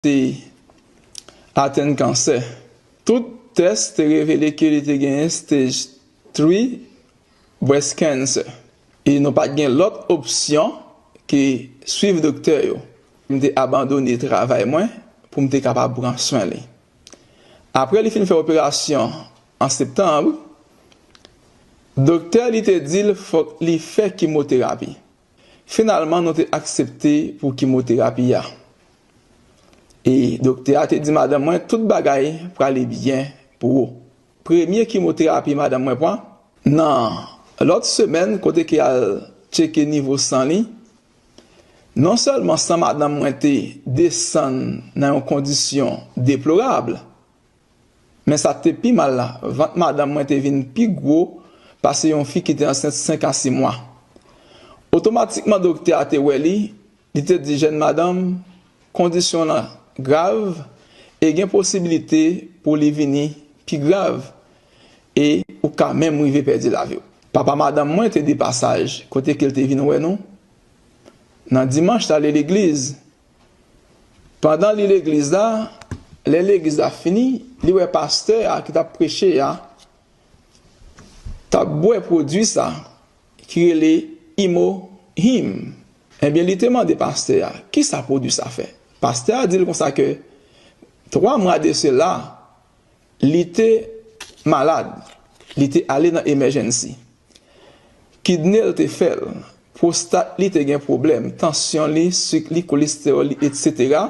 te atenn kansè. Tout tès te revele ke li te genyen Stage Three Breast Cancer e nou pat gen lòt opsyon ke swiv doktè yo. M te abandone travay mwen pou m te kapab pran swen li. Apre li fin fè operasyon an Septanb, doktè li te di l fòk li fè kimoterapi. Finalman nou te aksepte pou kimoterapi a. E doktè a te di madanm mwen tout bagay prale byen pou ou. Premye kimoterapi madanm mwen pran. Nan lòt semèn kote ke al tcheke nivo san li, non sèlman san madanm mwen te desann nan yon kondisyon deplorab, Men sa k te pi mal la, vant madanm mwen te vin pi gwo pase yon fi ki te ansent senk a si mwa. Otomatikman doktè a te wè li, li te di jèn madanm kondisyon lan grav e gen posibilite pou li vini pi grav e ou ka menm rive pèdi lavi w. Papa madanm mwen te depasaj kote ke l te vin wè nou. Nan dimanch l ale legliz Pandan li legliz la, lè legliz la fini, li wè pastè a ki t ap preche a t ap bwè pwodui sa ki rele Imo Him. Ebyen li te mande pastè a ki sa pwodui sa fè. Pastè a di l konsa ke 3 mwa de sela, Li te malad, li te ale nan emèjènsi. Kidne l te fè l, pwostat li te gen pwoblèm, tansyon li, sik li, kolestewòl li, etsetera,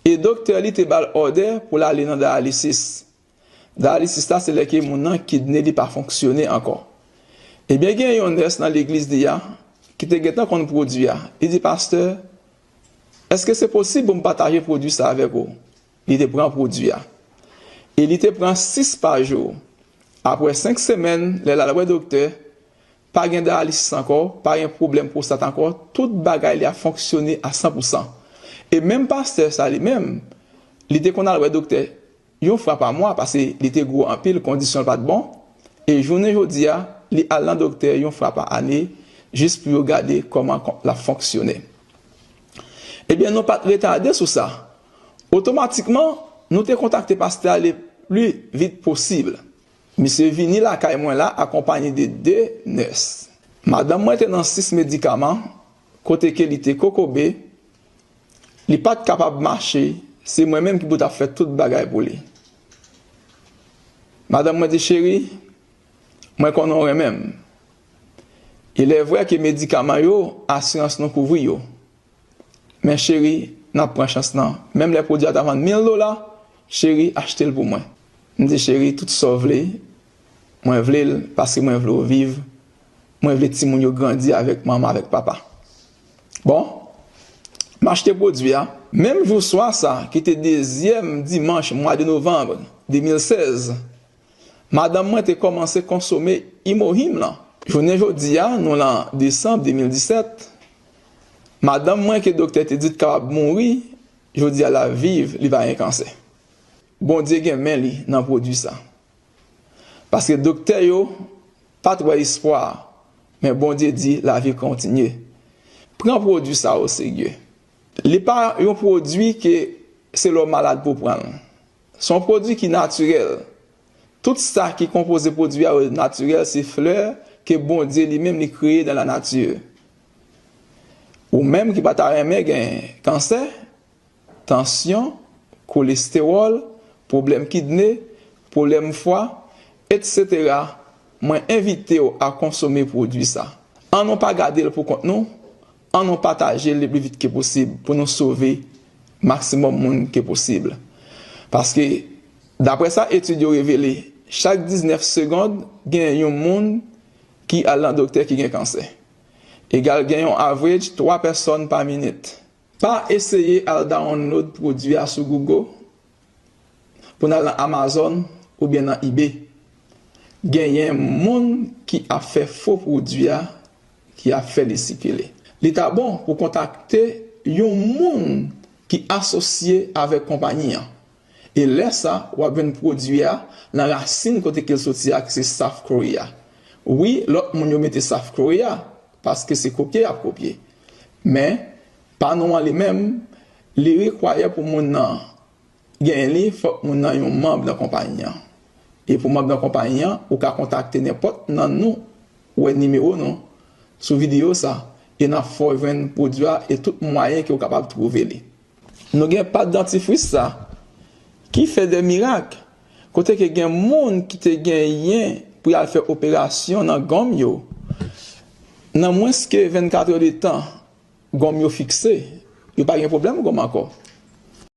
e doktè li te ba l òdè pou l ale nan dayalisis. Dayalisis la se lè ke moun nan kidne li pa fonksyone ankò. Ebyen gen yon nès nan legliz li a ki te gentan konn pwodui a, li di pastè, èske se posib pou m pataje pwodui sa avèk ou? Li te pran pwodui a. E li te pran 6 pa jou. Apre 5 semèn, lè l al wè doktè, pa gen dayalisis ankò, pa gen pwoblèm pwostat ankò, tout bagay li ap fonksyone a san pou san. E menm pastè sa li menm, li te konn al wè doktè yon fwa pa mwa pase li te gwo anpil, kondisyon l pa t bon. E jounen jodi a, li al nan doktè yon fwa pa ane jis pou yo gade kòman l ap fonksyone. Ebyen nou pa t retade sou sa, Otomatikman, nou te kontakte pastè a le pli vit posib. Misye vini lakay mwen la akonpanye de 2 nès. Madanm mwen te nan sis medikaman, kote ke li te kokobe, li pa t kapab mache, se mwen menm ki pou t ap fè tout bagay pou li. Madanm mwen di, Cheri, mwen konnen w renmen m. Ilèvre ke medikaman yo, asirans nou kouvri yo. Men cheri nan pran chans nan. Menm lè pwodwi a ta vann mil dola, cheri achte l pou mwen. M di cheri tout sa w vle, mwen vle l paske mwen vle w viv, mwen vle timoun yo grandi avèk manman avèk papa. Bon, m achte pwodwi a. Menm jou swa sa ki te dezyèm dimanch mwa de novanm 2016, madanm mwen te kòmanse konsome Imohim lan. Jounen jodi a nou lan desanm 2017, Madanm mwen ke doktè te di t kapab mouri jodi a lap viv li pa gen kansè Bondye gen men li nan pwodwi sa paske doktè yo pat wè espwa a men Bondye di lavi kontinye pran pwodwi sa o serye li pa yon pwodwi ke se lè w malad pou w pran l son pwodwi ki natirèl Tout sa ki konpoze pwodwi a yo natirèl se flè ke Bondye li menm li kreye dan la nati. Ou menm ki pa ta renmen gen kansè, tansyon, kolestewòl, pwoblèm kidne, pwoblèm fwa, etc mwen envitew a konsome pwodwi sa. An nou pa gadel pou kont nou An nou patajel le pli vit ke posib pou nou sove maksimòm moun ke posib. Paske daprè sa etid yo revele chak 19 segond gen yon moun ki al nan doktè ki gen kansè. Egal gen yon average 3 pèsòn pa minit. Pa eseye al download pwodwi a sou Google pou n al nan Amazon oubyen nan Ebay genyen moun ki ap fè fo pwodwi a ki ap fè li sikile. Li ta bon pou kontakte yon moun ki asosye avèk konpayi an e lè sa w ap jwenn pwodwi a nan rasin kote ke l soti a ki se South Korea. Wi lòt moun yo mete South Korea paske se kopye y ap kopye men Pa nou an li menm, li rekwayè pou moun nan genyen li, fòk moun nan yon manb nan konpayi an. E pou manb nan konpayi an, ou ka kontakte nenpòt nan nou, wè nimewo nou sou videyo sa, e n ap fè w jwenn pwodui a e tout mwayen ke ou kapab twouve li. Nou gen pat dantifris sa ki fè de mirak kote ke gen moun ki te genyen pou yal fè operasyon nan gonm yo, nan mwens ke 24 è de tan gonm yo fikse, yo pa gen pwoblèm gonm ankò.